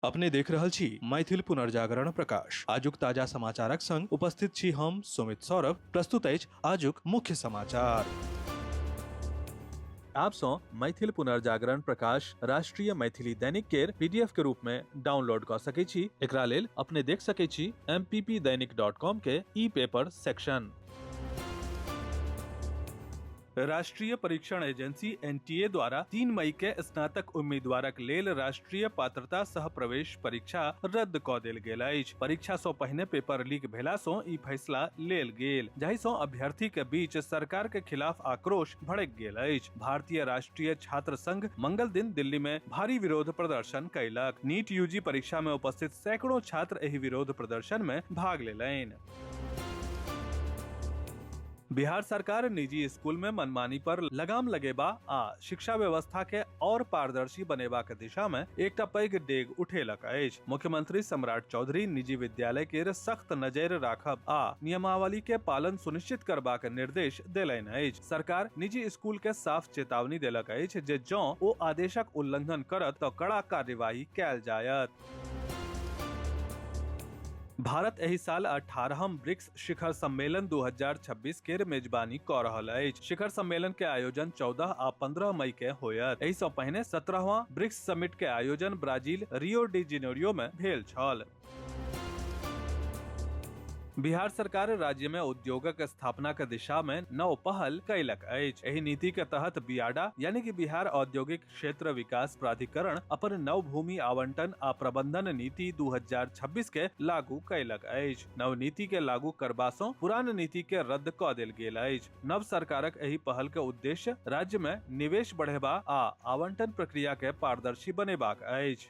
अपने देख रहल छी मैथिल पुनर्जागरण प्रकाश आजुक ताजा समाचारक संग उपस्थित छी हम सुमित सौरभ प्रस्तुत अछि आजुक मुख्य समाचार आप सौ मैथिल पुनर्जागरण प्रकाश राष्ट्रीय मैथिली दैनिक केर पीडीएफ के रूप में डाउनलोड क सके छी एकरा लेल अपने देख सके छी mppdainik.com के ई पेपर सेक्शन राष्ट्रीय परीक्षण एजेंसी एनटीए द्वारा 3 मई के स्नातक उम्मीदवारक लेल राष्ट्रीय पात्रता सह प्रवेश परीक्षा रद्द क देल गेल अछि परीक्षा सं पहिने पेपर लीक भेला सं ई फैसला लेल गेल जाहि सं अभ्यर्थी के बीच सरकार के खिलाफ आक्रोश भड़क गेल अछि भारतीय राष्ट्रीय छात्र संघ मंगल दिन दिल्ली में भारी विरोध प्रदर्शन कयलक नीट यूजी परीक्षा में उपस्थित सैकड़ों छात्र एहि विरोध प्रदर्शन में भाग लेलनि बिहार सरकार निजी स्कूल में मनमानी पर लगाम लगेबा आ शिक्षा व्यवस्था के और पारदर्शी बनेबा के दिशा में एकटा पैघ डेग उठेलक अछि मुख्यमंत्री सम्राट चौधरी निजी विद्यालय के सख्त नजर राखब आ नियमावली के पालन सुनिश्चित करबाक निर्देश देलनि अछि सरकार निजी स्कूल के साफ चेतावनी देलक अछि जे जँ ओ आदेशक उल्लंघन करत तऽ कड़ा कार्यवाही कयल जायत भारत एहि साल 18हम ब्रिक्स शिखर सम्मेलन 2026 के मेजबानी क रहल अछि शिखर सम्मेलन के आयोजन 14 आ 15 मई के होयत एहि सँ पहिने 17वां ब्रिक्स समिट के आयोजन ब्राजील रियो डी जेनेरियो में भेल छल बिहार सरकार राज्य में उद्योगक स्थापना के दिशा में नव पहल कैलक अछि एहि नीति के तहत बियाडा यानी कि बिहार औद्योगिक क्षेत्र विकास प्राधिकरण अपन नव भूमि आवंटन आ प्रबंधन नीति 2026 के लागू कयलक अछि नव नीति के लागू करबा सँ पुरान नीति के रद्द क देल गेल अछि नव सरकारक एहि पहल के उद्देश्य राज्य में निवेश बढ़ेबा आ आवंटन प्रक्रिया के पारदर्शी बनेबाक अछि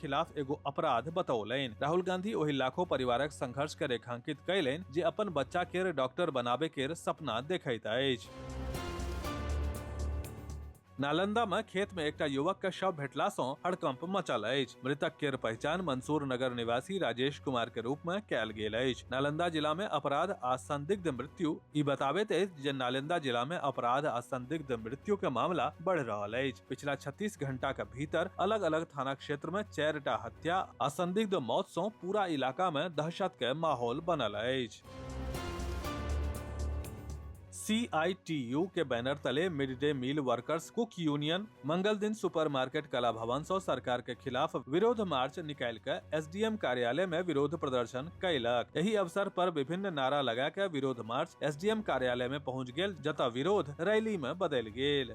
खिलाफ एगो अपराध बतौलनि राहुल गांधी ओहि लाखों परिवारक संघर्ष के रेखांकित कयलनि जे अपन बच्चा केर डॉक्टर बनाबे केर सपना देखैत अछि नालंदा में खेत में एकटा युवक के शव भेटला सं हड़कंप मचल अछि मृतक केर पहचान मंसूर नगर निवासी राजेश कुमार के रूप में कयल गेल अछि नालंदा जिला में अपराध आ संदिग्ध मृत्यु ई बताबैत अछि जे नालंदा जिला में अपराध आ संदिग्ध मृत्यु के मामला बढ़ रहल अछि पिछला 36 घंटा के भीतर अलग अलग थाना क्षेत्र में चारिटा हत्या आ संदिग्ध मौत सं पूरा इलाका में दहशत के माहौल बनल अछि सीआईटीयू के बैनर तले mid day meal workers cook union मंगल दिन सुपरमार्केट कला भवन सौ सरकार के खिलाफ विरोध मार्च निकाल के एसडीएम कार्यालय में विरोध प्रदर्शन कैलक यही अवसर पर विभिन्न नारा लगा के विरोध मार्च एसडीएम कार्यालय में पहुंच गेल जतऽ विरोध रैली में बदल गेल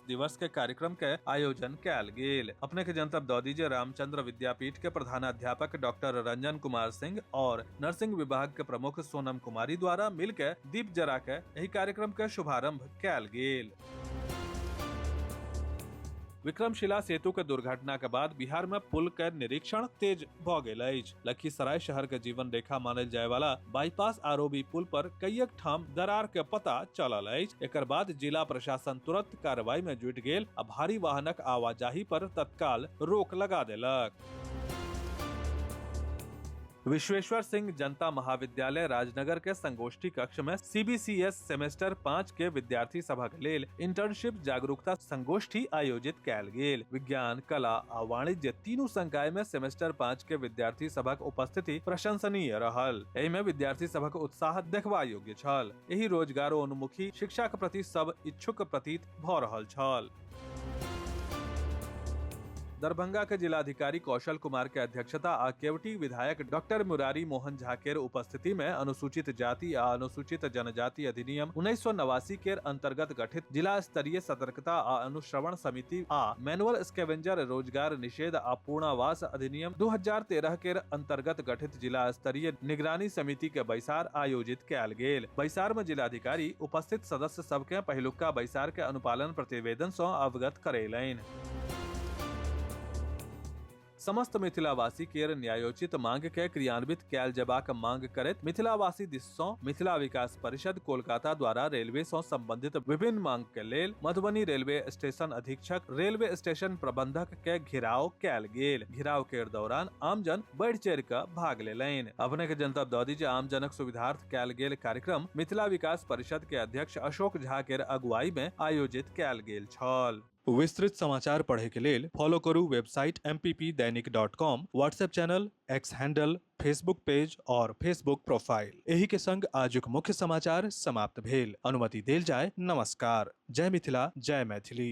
दिवस के कार्यक्रम के आयोजन कयल गेल अपने के जनतब दऽ दी जे रामचंद्र विद्यापीठ के प्रधानाध्यापक डॉक्टर रंजन कुमार सिंह और नर्सिंग विभाग के प्रमुख सोनम कुमारी द्वारा मिल के दीप जरा के एहि कार्यक्रम के शुभारंभ कयल गेल विक्रमशिला सेतु के दुर्घटना के बाद बिहार में पुल के निरीक्षण तेज भऽ गेल अछि लखीसराय शहर के जीवन रेखा मानल जाय वाला बाईपास आरोबी पुल पर कईयक ठाम दरार के पता चलल अछि एकर बाद जिला प्रशासन तुरंत कार्रवाई में जुट गेल आ भारी वाहनक आवाजाही पर तत्काल रोक लगा देलक विश्वेश्वर सिंह जनता महाविद्यालय राजनगर के संगोष्ठी कक्ष में सीबीसीएस सेमेस्टर पाँच के विद्यार्थी सभक लेल इंटर्नशिप जागरूकता संगोष्ठी आयोजित कयल गेल विज्ञान कला आ वाणिज्य तीनू संकाय में सेमेस्टर पाँच के विद्यार्थी सभक उपस्थिति प्रशंसनीय रहल एहि में विद्यार्थी सभक उत्साह देखबा योग्य छल एहि रोजगारोन्मुखी शिक्षा के प्रति सब इच्छुक प्रतीत भऽ रहल छल दरभंगा के जिलाधिकारी कौशल कुमार के अध्यक्षता आ केवटी विधायक डॉक्टर मुरारी मोहन झा के उपस्थिति में अनुसूचित जाति आ अनुसूचित जनजाति अधिनियम उन्नीस सौ नवासी के अंतर्गत गठित जिला स्तरीय सतर्कता आ अनुश्रवण समिति आ मैनुअल स्केवेंजर रोजगार निषेध आ पूर्णावास अधिनियम 2013 के अंतर्गत गठित जिला स्तरीय निगरानी समिति के बैसार आयोजित कयल गेल बैसार में जिलाधिकारी उपस्थित सदस्य सदस्य सबके पहिलुका बैसार के अनुपालन प्रतिवेदन सँ अवगत करेलैन। समस्त मिथिलावासी केर न्यायोचित मांग के क्रियान्वित कयल जेबाक मांग करैत मिथिलावासी दिस सँ मिथिला विकास परिषद कोलकाता द्वारा रेलवे सँ संबंधित विभिन्न मांग के लेल मधुबनी रेलवे स्टेशन अधीक्षक, रेलवे स्टेशन प्रबंधक, के घेराव कैल गेल घेराव के दौरान आमजन बढ़ चढ़ के भाग लेलनि अपने के जनतब दऽ दी जे आमजनक सुविधार्थ कैल गेल कार्यक्रम मिथिला विकास परिषद के अध्यक्ष अशोक झा के अगुवाई में आयोजित कैल गेल छल विस्तृत समाचार पढ़े के लेल फॉलो करू website M Dainik dot com WhatsApp channel X handle Facebook page और फेसबुक प्रोफाइल एही के संग आजुक मुख्य समाचार समाप्त भेल अनुमति देल जाय नमस्कार जय मिथिला जय मैथिली